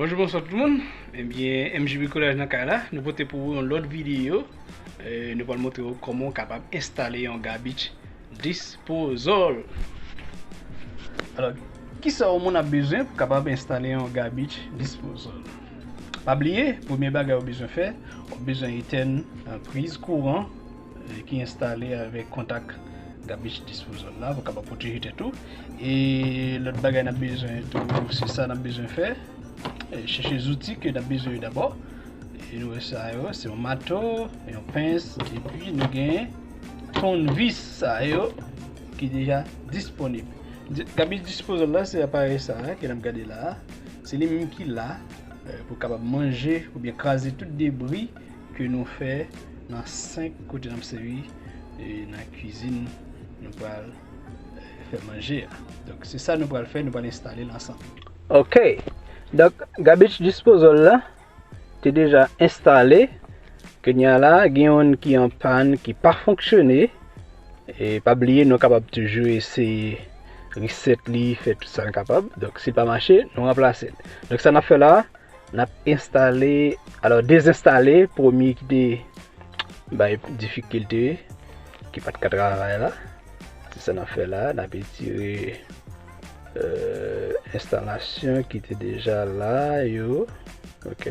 Bonjou bonswa tout moun, ebyen MJ Bricolage nan kay la, nou pote pou ou yon lòt videyo, nou pral montre ou kòman ou kapab enstale yon garbage disposal. Alò, kisa yon moun ap bezwen pou kapab enstale yon garbage disposal? Pa bliye, premye bagay ou bezwen fè, ou bezwen etèn priz kouran, Vue ki enstale avèk kontak garbage disposal la pou kapab pwoteje tèt ou. E lòt bagay nan bezwen tou se sa nan bezwen fè. E chèche zouti ke nan bezwen yo dabò. E nou wè sa yo, se yon mato, yon pens, epi nou gen ton vis sa yo ki deja disponib. Garbage disposal la se aparèy sa a ke nap gade la. Se li menm ki la pou kapab manje oubyen kraze tout debri. ke nou fè nan 5 kote nap sèvi e nan kizin nou pral fè manje a. Donk se sa nou pral fè, nou pral enstale l ansanm. Ok, donk garbage disposal la te deja enstale, kounya la gen youn ki an pàn ki pa fonksyone e pa bliye nou kapab toujou eseye reset li, fè tout sa n kapab, donk si l pa mache nou ranplase l. Donk sa nap fè la, Nap enstale alò dezenstale premye ki te bay difikilte ki pat ka travay la se sa nap fè la nap etire enstalasyon euh, ki te deja la yo ok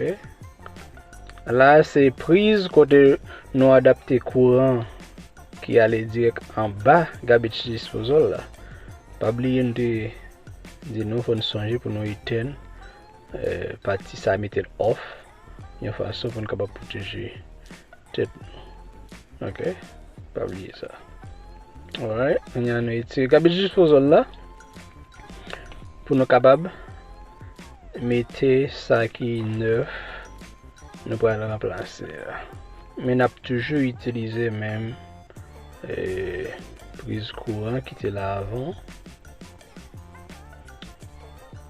la se priz kote nou adapte kouran ki ale direk an ba garbage disposal la pa bliye nou te di nou fòn sonje pou nou etèn euh, pati sa metel off yon fason pou nou kapab pwoteje tèt nou ok pa bliye sa alright nou yon nou etire gabe jis pou zon la pou nou kapab mete sa ki nef nou pral remplase men ap toujou itilize menm euh, priz kouran ki te la avan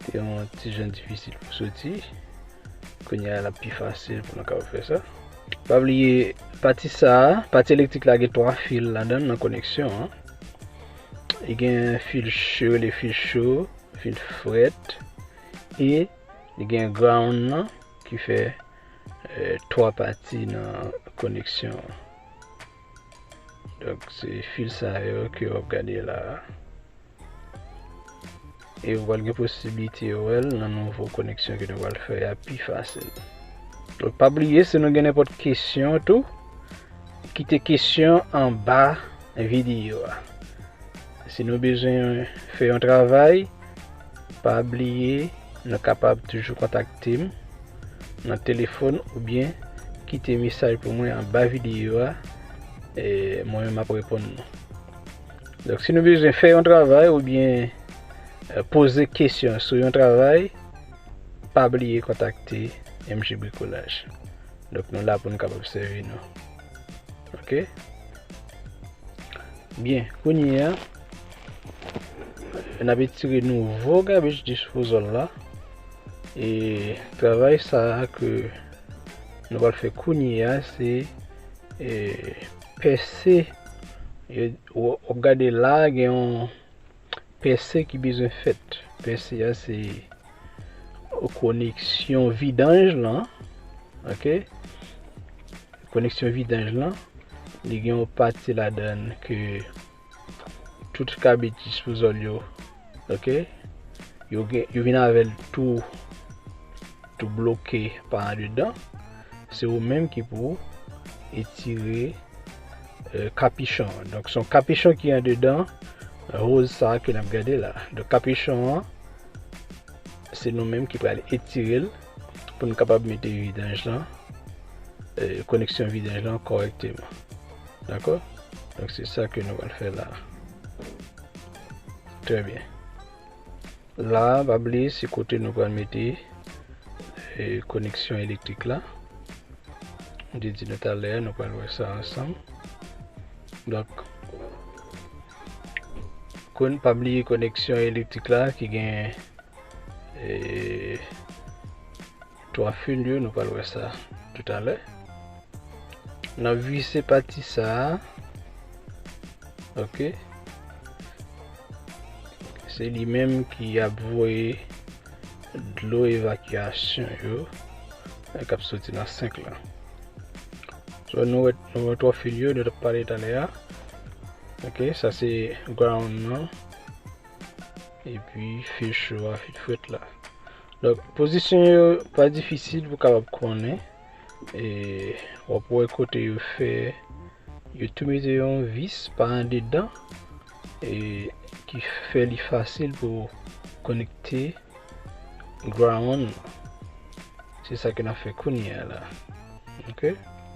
Te yon ti jan difisil pou soti. Kounye a lap pi fasil pou nou kapab fè sa. Pa bliye pati sa, pati elektrik la gen 3 fil ladan nan koneksyon an. E gen fil cho, le fil cho, fil fret e li gen ground nan ki fè 3 pati nan koneksyon an. Donk se fil sa yo ke wap gade la. E ou pral gen posibilite ou el nan nouvo koneksyon ke nou pral fè ya pi fasil. Donk pa bliye se nou gen nenpot kesyon tou. Kite kesyon an ba videyo a. Si nou bezwen fè yon travay. Pa bliye nou kapab toujou kontakte m nan telefòn oubyen kite mesaj pou mwen anba videyo a e mwen menm map reponn nou. Donk si nou bezwen fè yon travay oubyen euh, poze kesyon sou yon travay, pa bliye kontakte MG Bricolaj. Donk nou la pou nou kapab sèvi nou. Ok? Byen, kounye a. N ap etire nouvo gabich dispouzòl la e travay sa a ke nou pral fè kounye a se pèse w ap gade la a gen yon pèse ki bezwen fèt pèse a se koneksyon vidanj lan ok koneksyon vidanj lan li gen yon pati ladan l ke tout kabit disposal yo ok yo gen yo vin avèl tou tou bloke pa an dedan se ou menm ki pou etire euh, kapichon donk son kapichon ki an dedan roz sa ke nap gade la donk kapichon an se nou menm ki pral etirel pou nou kapab mete vidanj lan koneksyon euh, vidanj lan korekteman Dako Donk se sa ke nou pral fè la Trè byen La pa bliye se kote nou pral mete koneksyon elektrik la M te di nou talè a nou pral wè sa ansanm Donk Kon pa bliye koneksyon elektrik la ki gen Eee 3 fil yo nou pral wè sa tout alè nap vise pati sa ok se li menm ki ap voye dlo evakyasyon yo e kap soti nan 5 la so nou wè nou wè 3 fil yo nou tap pale talè a ok sa se ground nan epi fil cho a fil fret la Donk pozisyon yo pa difisil pou kapab konnen e wap wè kote yo fè yo tou mete yon vis pa andedan e ki fè li fasil pou konekte ground se sa ke nan fè kounye a la ok